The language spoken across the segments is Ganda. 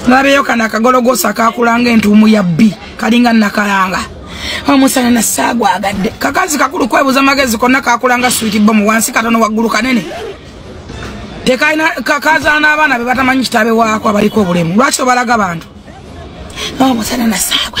nolabeeyo kano akagologoosa akakulanga entuumu ya bbi kalinga nakalanga omusana nasaagwagadde kakazi kakulu kwebuza magezi konna kakulanga switi bomu wansi katono waggulu kanene tekalina kakazaala n'abaana be batamanyi kitabe waako abaliko obulemu lwaki obalaga bantu omusana nasaagwa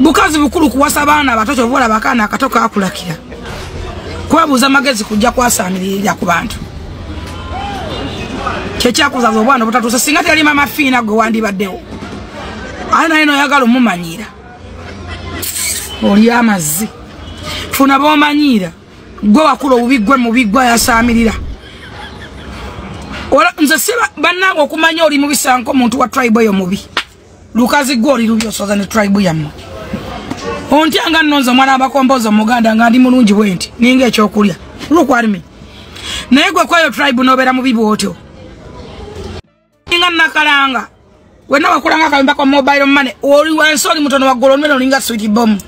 bukazi bukulu kuwasa baana abato kyova olaba akaana akato kakulakira kwebuuza magezi kujja kwasaamiririra ku bantu kyekyakuzaza obwana obutatuuse singa teyali mama fiina gwe wandibaddewo aye naye noyagala omumanyiira oli amazzi funa bomanyiira gwe wakula obubi gwe mubi gwe ayasaamirira nze si bannange okumanya oli mubisanko omuntu wa tribe eyo mubi lukazi gwe oli lubi osoza ne tribe yamma ontya nga nonza omwana abakomboza omuganda nga ndi mulungi bwe nti ninga ekyokulya lukwarimi naye gwe kweyo tribe nobeera mubi bwotyo ninga nakalanga wena wakulanga akayumba kwa mobile money oli wansi oli mutono waggulu onumena olinga switi bomu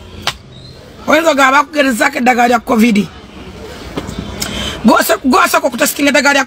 oyinza ogamba bakugerezaako eddagala lya covid gwasooka okutasitinga eddagala lya